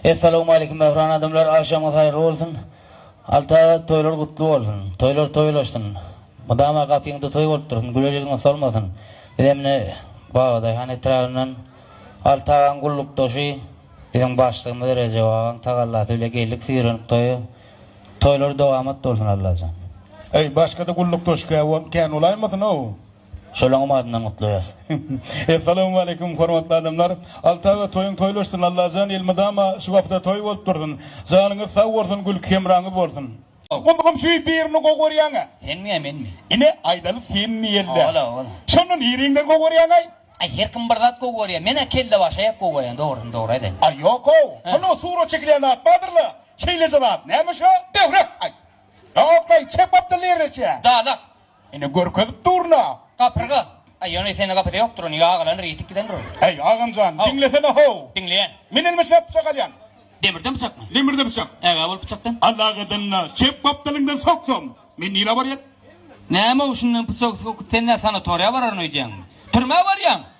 Essalawmaleýkim mähriban adamlar agşamyňyz haýyrly bolsun Alta toýlar gutly bolsun toýlar toýlaşsyn mydama gapyňda toý bolup dursun güler ýüzüňiz solmasyn bizem ine Babadaýhan etrabyndan Alta agaň gullukdaşy biziň başlygymyz Rejep agaň tagallasy bile geldik syýrenip toýa toýlar dowamat bolsun Allajan. Eý başgada gullukdaşykä won kän bolaýmasyn ow. Şolaňam adyndan gutlaýas. Essalawmaleýkum hormatly adamlar. Alty aga toýuň toýlaşsyn Allajan elmydama şu wagta toý bolup dursun. Janyňyz sag bolsun gülki hemraňyz bolsun. Gulgum şuý birini gowy görýäňä. Senmiä menmi. Ine aýdaly sen diýelidä. Ol ol. Şonda niriňden gowy görýäňaý. Aý her kim bir zat gowy görýä menä kelle başaýak gowy görýän dogryny dogry aýdaýyn. Aý ýokow hany surat çekilýän zat bardyrla şeýleje zat näme şo. Böwrek. Aý. Ýokaý çep Abdylla Erneçä. Dalak. Ine görkezip durna. Gapyrga. Aý ýöne sende gapyda ýokdur ony ýagalandyr ýitip gidendir ol. Äý agamjan diňlesene how. Diňleýän. Men elime şäp pyçak alýan. Demirden pyçakmy? Demirden pyçak. Ägä bol pyçakdan. Allagadanna çep gapdalyňdan soksam men nirä barýan? Näme ol şundan pyçak sokup sen nä sanatoriýa bararyn öýdýäňmi? Türmä barýaň.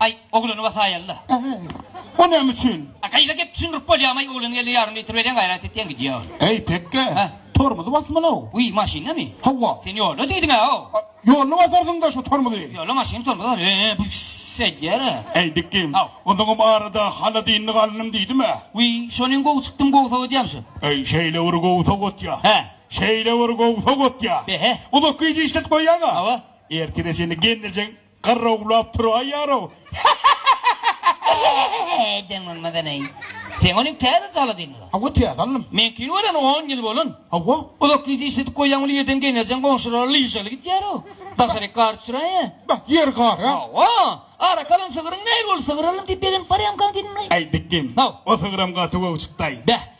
Aý, oglany wasaýaly-da. Äý, o näme üçin? A gaýra gep düşündirip bolýarmaý, oglany ýelde ýarym litr berýän, gaýrat etýän gidýär. Äý, pekge, Hä? tormuzy basmaly-ow. Wiý, maşyndamy? Hawa. Sen ýolda diýdiň-ä-ow. A, ýolda basarsyň-da şu tormuzy. Ýolda maşynyň tormuzy bar. Ä-ä, bifs edýär-ä. Äý, dikgim, Haw. onsoňam arada hala dynlyk alnym diýdim-ä. Wiý, şonym gowy çykdym, gowy sowatýam şu. Äý, şeýle bir gowy sowatýa. Hä? Şeýle bir gowy sowatýa. Be-he. Uzak gije işletip goýýaň-a. Hawa. Ertire seni gelnejeň Garrawlap tur aý ýarow. Hehehehehehehehe deň bolmadan aý. Seň ony täze saladyn ula. Hawa täze aldym. Meňkini göreni on ýyl bolan. Hawa. Uzak gije işledip goýýaň uly ýerden geňerjeň goňşulara lyžaly gidýärow. Daşaryk gar düşüräýe. Bah ýer gar a. Hawa. Arak alan sygyryň näl boldy sygyr aldym diýip begenip barýamykaň diýdim laý. Aý diýdim. Haw. O sygyram gaty gowy çykdaý. Bäh.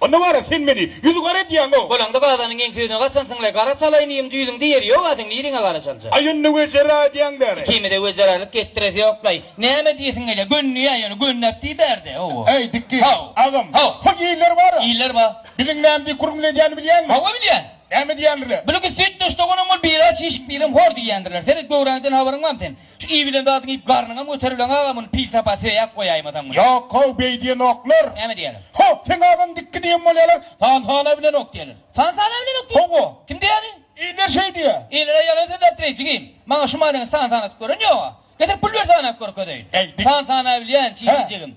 Onda wara sen meni ýüz gara edýäňow. Bolaňda gazanyň geň sözüne gaçansyňlaý, gara çalaýyn iýiň düýbüňde ýeri ýog-a seň niriňe gara çaljak. Aý onda wezera edýäň bäri. Ikimize wezeralyk etdiresi ýoklaý. Näme diýesiň gelýä, gönnüýä ýöne gönnäp diý bärde, hawa. Äý diki, agam, hok iller bar-a. Iller bar. Biziň näme diýip hurmut edýänini bilýäňmi? Hawa bilýän. Näme diýendirler? Biligi süýtdeş doganyň bol, biri aç işik, birem hor diýýändirler. Seret göwräňden habaryň barmy seň? Iý bilen zadyňy iýip garnyňam göterileň aga muny pis sapa söýäp goýaýmasaň muny. Ýok how beý diýenoklar. Näme diýýäler? Ho seň agaň dikki diýen bolýalar san sana bilenok diýýäler. San sana bilenok diýýär. Hawa. Kim diýýäni? Iller şeý diýýär. Illere ýalan söz aýtdyraý jigim. Maňa şu manyny san sanap gören ýoga. Getir pul ber sanap görkezeýin. San sana bilýän çiýdi jigim.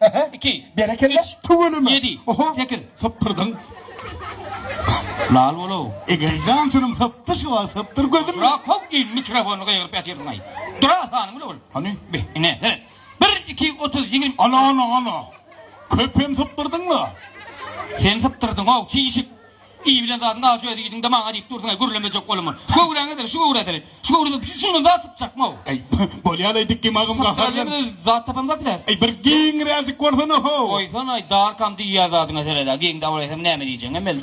Hehe. Iki. Berekella. Üç. Tüweleme. Ýedi. Oho. Sekiz. Sypdyrdyň. Lal bol-ow. Eger jansynyň sypdy şu wagt sypdyr gözüm. Ýok how il mikrofony gygyryp ýatyrsyň-aý. Dura sanyň bile ol. Hany? Be, ine, he. Bir, iki, otuz, ýigrimi. Ana, ana, ana. Köp hem sypdyrdyň-la. Sen sypdyrdyň-ow, çişik. Iý bilen zadyň ajy öz iýdiňde maňa diýip dursuň-aý, gürlemejek bolama. Şu göwräňe seret, şu göwrä seret. Şu göwrede şundan zat sypjakmy-ow? Äý, bolýa-laý dikgim agam gaharlan. Sypdyra diýen bilen zat tapamyz-a biler. Äý, bir giňräjik bolsana-how! Goýsana-aý, darkam diýýä zadyňa seret-ä, giňdä bolaýsaň näme diýjegiňem belli däl.